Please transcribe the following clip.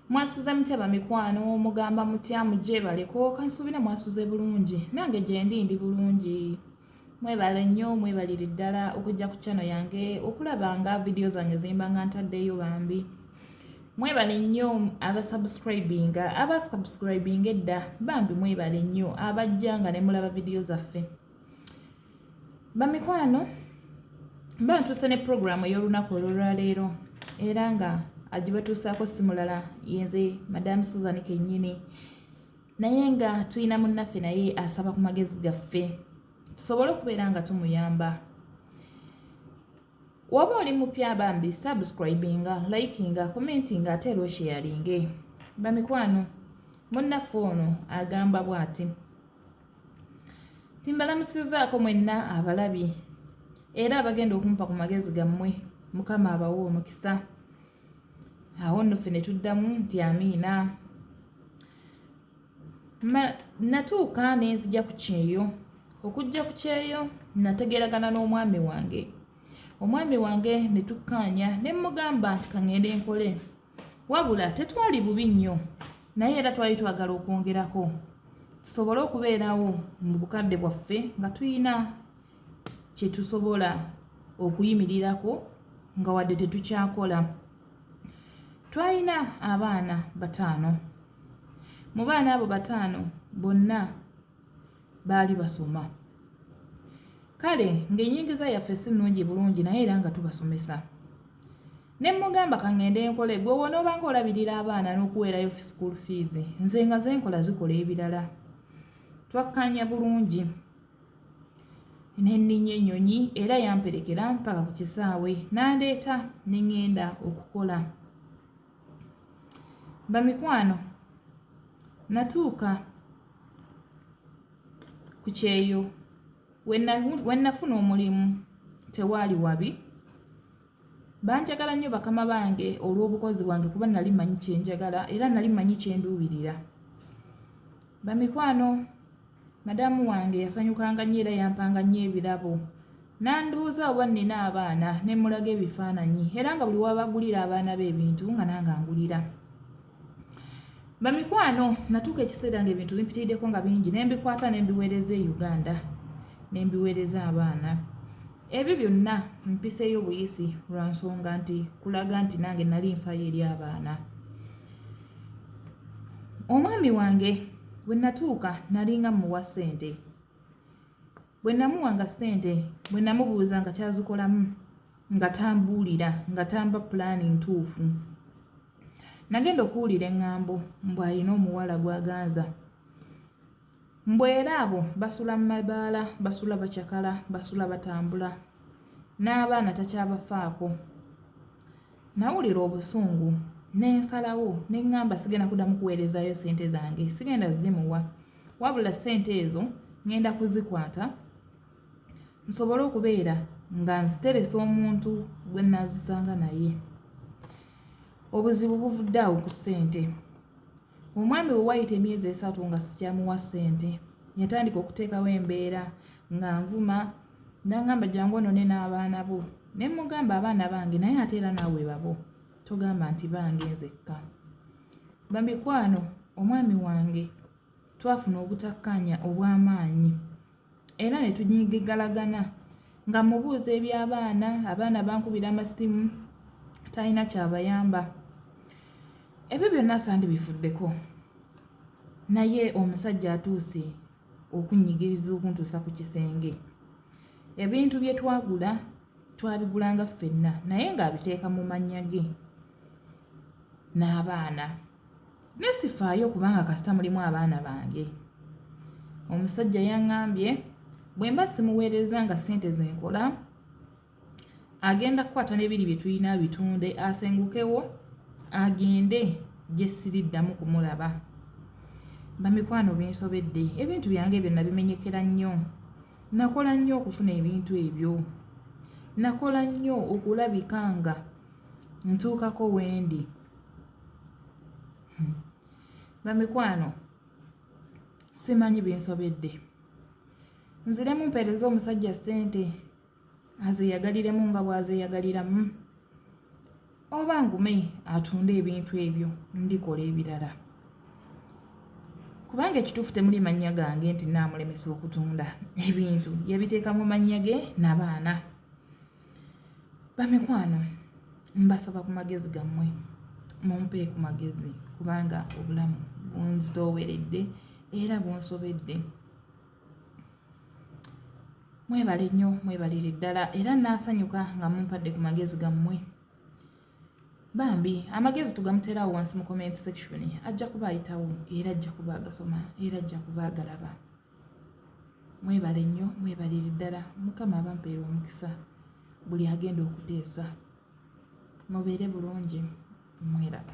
mwasuze mutya bamikwano mugamba mutya mujebaleko kansuubira mwasuze bulungi nange gyendi ndi bulungi mwebale nnyo mwebalire ddala okujja ku kyano yange okulaba nga vidiyo zange zimba nga ntaddeyo bambi mwebale nnyo abasubscribinga abasubscribinga edda bambi mwebale nnyo abajja nga ne mulaba vidiyo zaffe bamikwano mba ntuuse ne puroguramu ey'olunaku olwolwaleero era nga agibatuusaako si mulala yenze madamu suzan kennyini naye nga tulina munnaffe naye asaba ku magezi gaffe tusobole okubeera nga tumuyamba waba oli mupya bambi subscribinga likinga commentinga ate era osheyalinge bamikwano munnaffe ono agamba bw'ati timbalamusizaako mwenna abalabi era abagenda okumpa ku magezi gammwe mukama abawa omukisa awo nno ffe ne tuddamu nti amiina natuuka ne nzija ku kyeyo okujja ku kyeyo nategeragana n'omwami wange omwami wange ne tukkaanya ne mmugamba nti kaŋŋende nkole Wabula tetwali bubi nnyo naye era twali twagala okwongerako tusobole okubeerawo mu bukadde bwaffe nga tulina kye tusobola okuyimirirako nga wadde tetukyakola. Twalina abaana bataano. Mu baana abo bataano bonna baali basoma. Kale ng'ennyingiza yaffe si nnungi bulungi naye era nga tubasomesa. Ne mmugamba ka ŋŋende nkole, ggwe w'onoobanga olabirira abaana n'okuweerayo school fees, nze nga ze nkola zikola ebirala. Twakkaanya bulungi ne nninnya ennyonyi era yamperekera mpaka ku kisaawe n'andeeta ne ŋŋenda okukola. Bamikwano natuuka ku kyeyo we nnafuna omulimu tewaali wabi. Banjagala nnyo bakama bange olw'obukozi bwange kuba nali manyi kye njagala era nali manyi kye nduubirira. Bamikwano, madaamu wange yasanyukanga nnyo era yampanga nnyo ebirabo. N'andibuuza oba nnina abaana ne mmulaga ebifaananyi era nga buli w'abagulira abaana be ebintu nga nange angulira. bamikwano natuuka ekiseera nga ebintu bimpitirideko nga bingi nembikwata nembiweereza e uganda nembiweereza abaana ebyo byonna mpiseeyo buyisi lwa nsonga nti kulaga nti nange nali nfaayo eri abaana omwami wange bwe natuuka nalinga muwa ssente Bwe namuwanga ssente bwe namubuuza nga kyazikolamu nga tambuulira nga tamba pulaani ntuufu. Nagenda okuwulira eŋŋambo mbu alina omuwala gw'aganza. Mbu era abo basula mu mabaala, basula bacakala, basula batambula n'abaana takyabafaako. Nawulira obusungu ne nsalawo ne ŋŋamba sigenda kuddamu kuweerezaayo ssente zange, sigenda zimuwa wabula ssente ezo ŋŋenda kuzikwata nsobole okubeera nga nziteresa omuntu gwe nnaazisanga naye. Obuzibu buvudde awo ku ssente. Omwami we wayita emyezi esatu nga sikyamuwa ssente yatandika okuteekawo embeera nga nvuma nangamba jangu onone n'abaana bo ne mmugamba abaana bange naye ate era naawe babo togamba nti bange nzekka bamikwano omwami wange twafuna obutakkaanya obw'amaanyi era ne tunyigigalagana nga mmubuuza eby'abaana, abaana bankubira amasimu talina kyabayamba. Ebyo byonna sandibifuddeko naye omusajja atuuse okunnyigiriza okuntuusa ku kisenge. Ebintu bye twagula twabigulanga ffenna naye ng'abiteeka mu mannya ge. n'abaana naye sifaayo kubanga kasita mulimu abaana bange omusajja yaŋambye bwe mba simuweereza nga ssente ze nkola agenda kukwata n'ebiri bye tulina bitunde asengukewo agende gye siriddamu kumulaba bamikwano binsobedde ebintu byange ebyo nabimenyekera nnyo nakola nnyo okufuna ebintu ebyo nakola nnyo okulabika nga ntuukako wendi hmm. bamikwano simanyi binsobedde nziremu mpeereza omusajja ssente azeyagaliremu nga bwazeyagaliramu oba ngume atunde ebintu ebyo ndikola ebirala kubanga ekituufu temuli mannya gange nti naamulemesa okutunda ebintu yabiteeka mu mannya ge nabaana Bamikwano mbasaba ku magezi gammwe mumpe ku magezi kubanga obulamu bunzitooweredde era bunsobedde mwebale nnyo mwebalire ddala era naasanyuka nga mumpadde ku magezi gammwe bambi amagezi tugamuteerawo wansi mu comment section ajja kuba ayitawo era ajja kuba agasoma era ajja kuba agalaba Mwebale nnyo mwebalire ddala mukama abampeere omukisa buli agenda okuteesa mubeere bulungi mweraba.